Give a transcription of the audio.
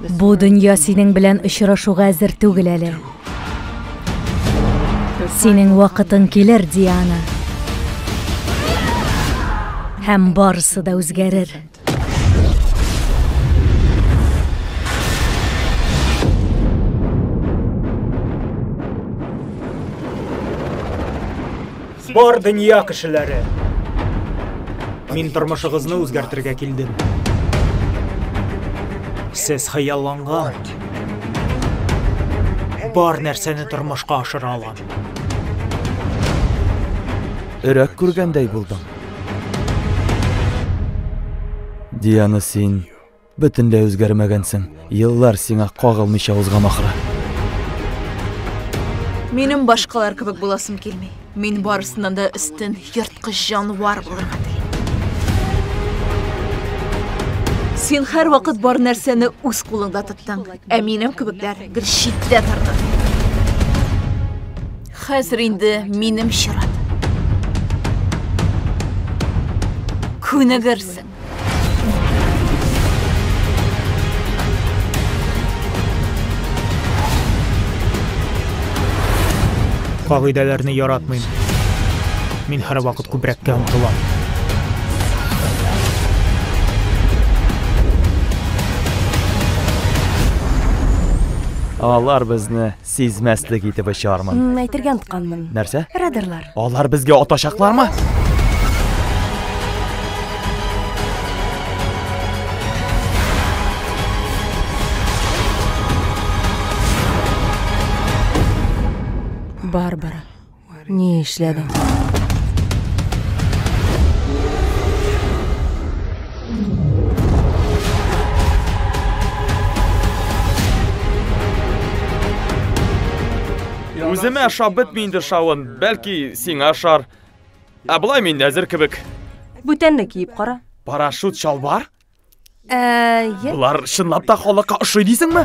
Бу дөнья синең белән очрашуга әзер түгел әле. Синең вакытың килер, Диана. Һәм барысы да үзгәрер. Бар дөнья кешеләре. Мин тормышыгызны үзгәртергә килдем. Сез хыялланган. Бар нәрсәне тормышка ашыра алам. Өрәк күргәндәй булдым. Диана, син бөтенләй үзгәрмәгәнсең. Еллар сиңа кагылмыйча узган ахры. Минем башкалар кебек буласым килми. Мин барысыннан да өстен, ерткыч җанвар булырга телим. Син һәрвакыт бар нәрсәне үз кулыңда тоттың. Ә минем кебекләр бер читтә торды. Хәзер инде минем чират. Күнегерсең. Кагыйдәләрне яратмыйм. Мин һәрвакыт күбрәккә омтылам. Алар безне сизмәслек итеп очармын. М, Әйтергә онтканмын. Нәрсә? Радарлар. Алар безгә атачаклармы? Барбара. Ни эшләдең? Үземә ашап бетми инде шавын, бәлки сиңа ашар. Ә болай мин әзер кебек. Бүтәнне киеп кара. Парашют чалбар? Ә, Болар чынлап та халыкка ошый дисеңме?